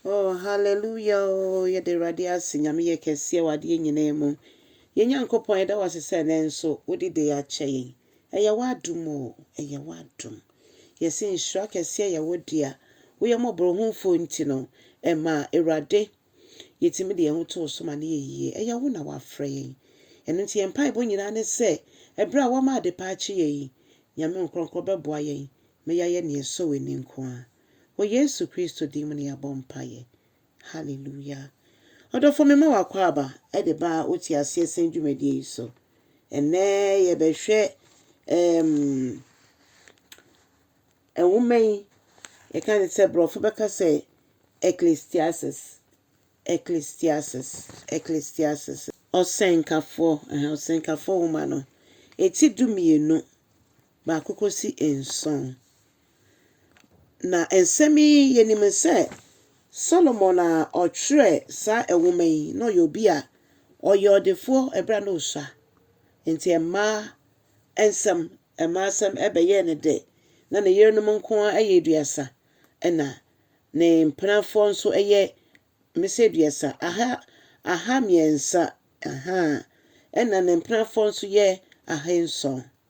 Oh hallelujah oh yɛda Awurade ase Nyame yɛ kɛseɛ wɔ adeɛ nyinaa mu Yɛn Nyankopɔn yɛda wo ase sɛ ɛnɛ nso wode day akyɛ yɛn Ɛyɛ w'adom oh ɛyɛ w'adom Yɛse nhyira kɛseɛ yɛ wo dea Wo yɛ mmɔborɔhunfoɔ nti no ɛma Awurade Yɛtumi de yɛn ho to wo so ma no yɛ yie Ɛyɛ wo na wafrɛ yɛn Ɛno nti yɛn mpaebɔ nyinaa ne sɛ ɛberɛ a woama adepa akye yɛn yi Nyame wo nkorɔnkorɔ bɛboa yɛn ma yɛayɛ nea ɛsɔ w'ani nko ara Wɔ Yesu Kristo din mu na yɛabɔ mpaeɛ. Hallelujah. Ɔdɔfoɔ mema w'akwaaba de ba wo te aseɛ sɛn dwumadie yi so. Ɛnnɛ yɛbɛhwɛ ɛɛm ɛnwoma yi yɛka ne sɛ borɔfo bɛka sɛ Ecclesiastes Ecclesiastes Ecclesiastes ɔsɛnkafoɔ ɛhɛn ɔsɛnkafoɔ nwoma no eti du mmienu baako kɔsi nson Na nsɛm yi, yɛnim sɛ Solomon a ɔtwerɛɛ saa nwoma yi, na ɔyɛ obi a ɔyɛ ɔdefoɔ ɛberɛ a na ɔsua. Nti mmaa nsɛm, mmaa asɛm ɛbɛyɛɛ no dɛ. Na ne yerenom nko ara yɛ aduasa, ɛna ne mpenafoɔ nso yɛ mmɛsɛ aduasa, aha, aha mmiɛnsa, ahaa, ɛna ne mpenafoɔ nso yɛ ahanson.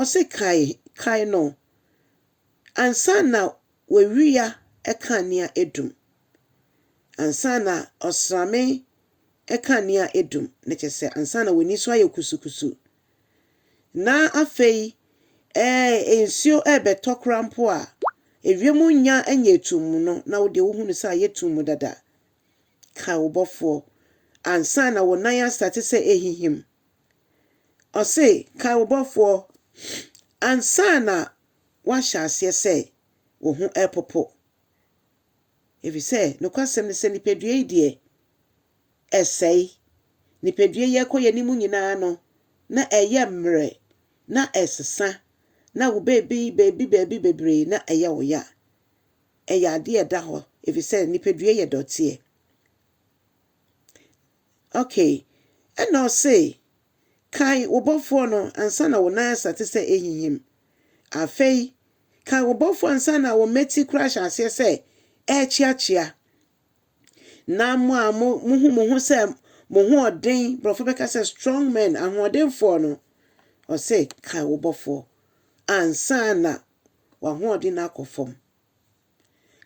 Ɔse kae, kae no ansa na w'awia kanea adum, ansa na ɔsrame kanea adum, na kyerɛ sɛ ansa na w'ani so ayɛ kusukusu, na afei ɛɛ nsuo ɛrebɛtɔ koraa mpo a, ewiem nnya nyɛ tumm no, na wo deɛ wohunu sɛ ayɛ tumm dada. Kae wo bɔfoɔ ansa na wo nan astate sɛ ɛhihim, Ɔse, Kae wo Bɔfoɔ ansa na woahyɛ aseɛ sɛ wo ho repopo. Ɛfiri sɛ, nokwasɛm ne sɛ, nipadua yi deɛ, ɛsɛe. Nipadua yi ɛkɔ yɛn anim nyinaa no, na ɛyɛ mmerɛ, na ɛsesa, na wo baabi baabi baabi bebree na ɛyɛ wo ya. Ɛyɛ adeɛ a ɛda hɔ, ɛfiri sɛ, nipadua yɛ dɔteɛ. Okay. Ɛna ɔse, Kae wo bɔfoɔ no ansa na wo nan asa te sɛ ɛrehinhim. Afei, kae wo bɔfoɔ ansa na wo mmati koraa ahyɛ aseɛ sɛ ɛrekyeakyea. Na mo a mo, mohu mo ho sɛ mo ho ɔden, borɔfo bɛka sɛ strong men, ahoɔdenfoɔ no, ɔse, kae wo bɔfoɔ ansa na w'ahoɔden no akɔ fam.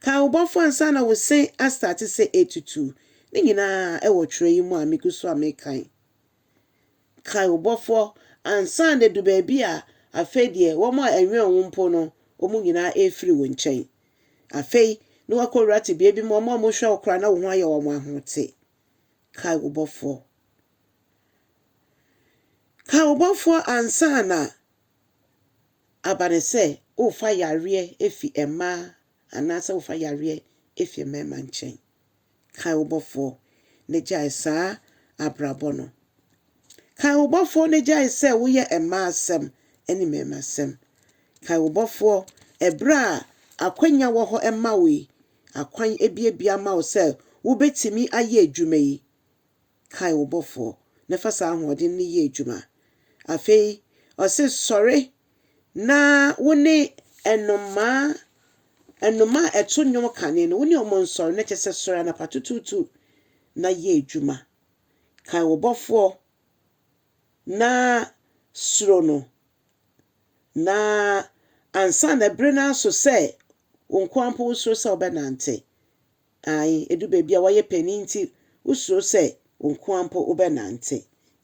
Kae wo Bɔfo ansa na wo se astarte sɛ etutu. Ne nyinaa wɔ twerɛ yi mu a megu so a mekan. Kae wo Bɔfo ansa na edu baabi a afei deɛ wɔn a ɛnwɛn wo mpo no, wɔn nyinaa refiri wo nkyɛn. Afei na woakɔwura tebea bi mu a wɔn a wɔhwɛ wo koraa na wo ho ayɛ wɔn ahote. Kae wo Bɔfo. Kae wo Bɔfo ansa na Aba no sɛ worefa yareɛ fi mmaa anaasɛ worefa yareɛ fi mmarima nkyɛn. Kae wo Bɔfoɔ na gyae saa abrabɔ no. Kae wo Bɔfoɔ na gyae sɛ woyɛ mmaa asɛm ne mmarima asɛm. Kae wo Bɔfoɔ ɛberɛ a akwanya wɔ hɔ ma wo yi, akwan abiabia ama wo sɛ wobɛtumi ayɛ adwuma yi. Kae wo Bɔfoɔ, na fa saa ahoɔden no yɛ adwuma. Afei ɔse, Sɔre na wo ne nnomaa, nnomaa a ɛto nnwom kane no, wo ne wɔn nsɔre, na kyerɛ sɛ sɔre anapa tutuutu na yɛ adwuma. Kae wo Bɔfoɔ na suro no, na ansa na bere no aso sɛ wo nko ara mpo wosuro sɛ wobɛnante. Ae, edu baabi a woayɛ panyin nti wusuro sɛ wo nko ara mpo wobɛnante,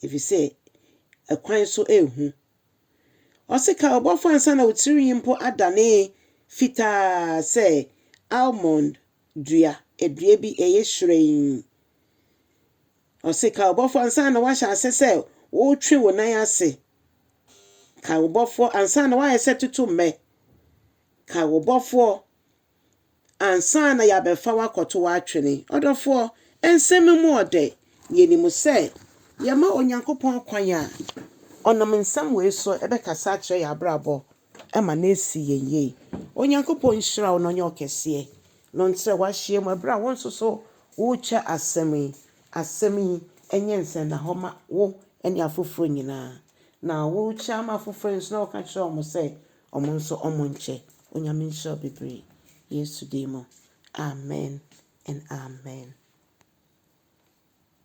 efisɛ akwan so yɛ hu. Ɔse ka wo Bɔfo ansa na wo tirinwi mpo adane fitaa sɛ almond dua, dua bi ɛyɛ hyerɛnn. Ɔse ka wo Bɔfo ansa na woahyɛ ase sɛ woretwe wo nan ase. Ka wo Bɔfoɔ ansa na woayɛ sɛ totommɛ. Ka wo Bɔfoɔ ansa na yɛabɛfa wo akɔto wo atwene. Ɔdɔfoɔ, nsɛm mu ɔdɛ, yɛnim sɛ yɛma Onyankopɔn kwan a, Ɔnam nsɛm wei so bɛkasa akyerɛ yɛn abrabɔ ma no asi yɛn yie. Onyankopɔn nhyira wo na ɔnyɛ wo kɛseɛ, na ɔntrɛ w'ahyeɛ mu ɛberɛ a wo nso so worekyɛ asɛm yi. Asɛm yi nyɛ nsɛnnahɔ mma wo ne afoforɔ nyinaa, na worekyɛ ama afoforɔ nso na woka kyerɛ wɔn sɛ Ɔmo nso ɔmo nkyɛ. Onyame nhyira wo bebree. Yesu din mu. Amen and amen.